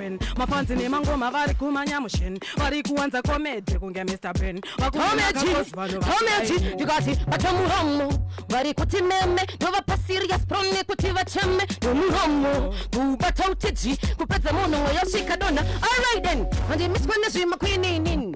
ben mafanzi nemangoma vari kumanyamushen vari kuwanza komedi kunge mr ben vakuomeji ndikati vatomuhomo vari kuti meme ndovapa serious pro nekuti vacheme nomuhomo kubata utiji kupedza munhu mweyo svikadona alright then handimiswe nezvimakwininin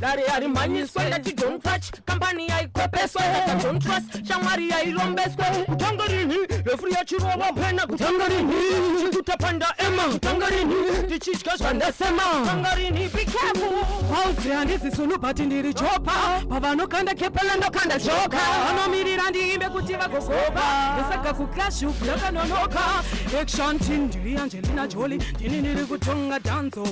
dare yarimhanyiswe ndati don't touch kambani yaikwepeswe ndati don't trust shamwari yairombeswe kutanga rinhi refu yachirova pena kutanga rinhi chikutapanda ema kutanga rinhi ndichitya zvandasema kutanga rinhi be careful hauzi handizi sunu but ndiri chopa pavanokanda kepela ndokanda choka vanomirira ndiimbe kuti vagogoka ndosaka kuclash uku yakanonoka action team ndiri angelina joli ndini ndiri kutonga danzo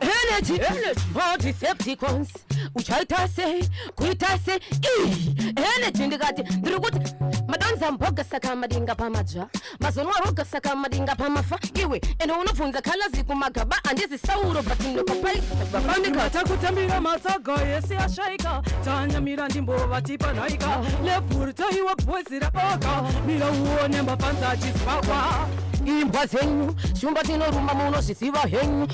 energy or decepticons uchaita sei kuita sei energy ndikati ndiri kuti madonza mboga saka madinga pamadzva mazonwa roga saka madinga pamafa iwe ende unobvunza kalazi kumagaba andizi sauro but ndokapaiaandikata kutambira matsaga yese ashaika tanyamira ndimbovatipa nhaika levhuri taiwa bhozi raboga mira uone mafanza achizvakwa imbwa dzenyu shumba tinorumba munozviziva henyu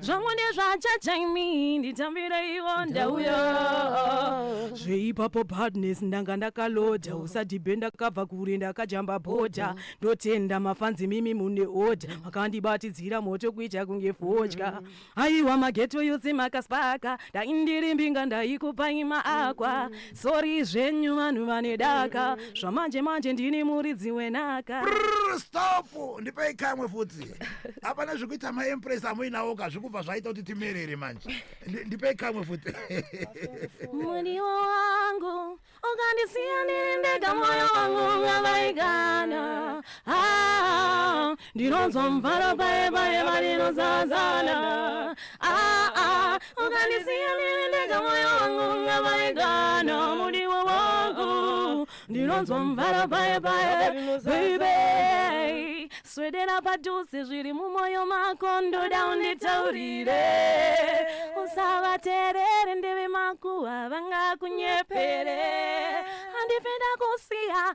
zvangu ndezvachachaimi nditambiraiwo ndauya zveipapo badness ndanga ndakaloda usadhibhe ndakabva kure ndakajamba bhodha ndotenda mafanzi mimi mune oda makandibatidzira moto kuita kunge fodya aiwa mageto yose makaspaka ndaindiri mbinga ndaikupai maakwa Sorry zvenyu vanhu vane daka zvamanje manje ndini muridzi wenaka. Brrr, stop ndipei kamwe futi hapana zvekuita maempress amuinawo ka zvikubva zvaita kuti timerere manje Ndi- ndipei kamwe futi Mudiwa wangu ukandisiya ndiri ndega moyo wangu ngavaigana ah, ndinonzwa mvaro paye paye varinozazana ah, ah, ukandisiya ndiri ndega moyo wangu ungavaigana mudiwa wangu ndinonzwa mvaro paye paye baby swedera padhuze zviri mumoyo mako ndoda unditaurire usavaterere ndeve makuwa vangakunyepere handipinda kusiya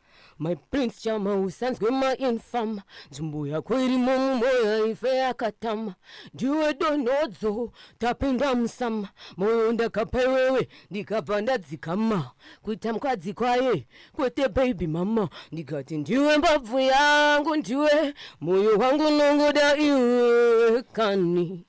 My prince chama usanzwe mainfama nzvimbo yako irimo mumoyo ife yakatama ndiwe donhodzo tapinda musama moyo ndakapa iwewe ndikabva ndadzikama kuita mukadzi kwaye kwete baby mama ndikati ndiwe mbabvu yangu ndiwe moyo wangu nongoda iwe kani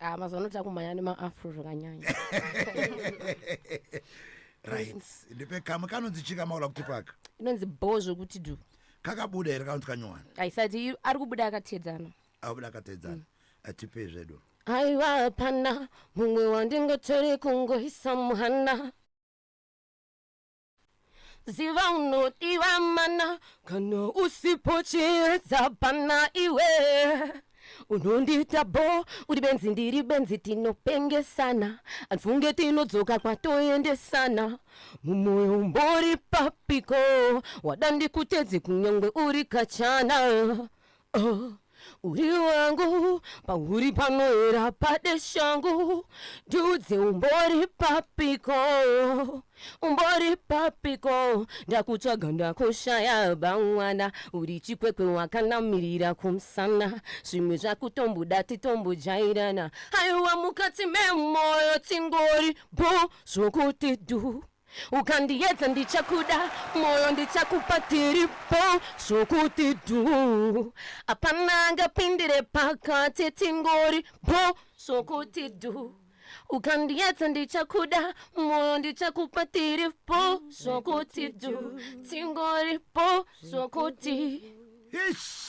ah mazuva ano takumhanya nemaafro zvakanyanya right ndipe kamwe kanonzi chika maula kuti paka inonzi bho zvekuti du kakabuda here kanonzi kanyowani aisati i- ari kubuda akatedzana abuda akatedzana atipei zvedu aiwa hapana mumwe wandingatori kungoisa muhana ziva unodiwa mana kana usipo chiedza pana iwe unondiita bo uri benzi ndiri benzi tinopengesana andifunge tinodzoka kwatoendesana mumoyo umbori papiko wada ndikutedze kunyangwe uri kachana Oh, uri wangu pauri panoera pade shangu ndiudze umbori papiko umbori papiko ndakutsvaga ndakushaya bamwana uri chikwekwe wakanamirira kumsana zvimwe zvakutombuda titombojairana haiwa mukati memoyo tingori bho zvokuti dhu Ukandiyedza ndichakuda moyo ndichakupa tiripo zvokuti dhu apana angapindire pakati tingori po zvokuti dhu ukandiyedza ndichakuda moyo ndichakupa tiripo zvokuti dhu tingori po zvokuti Ish!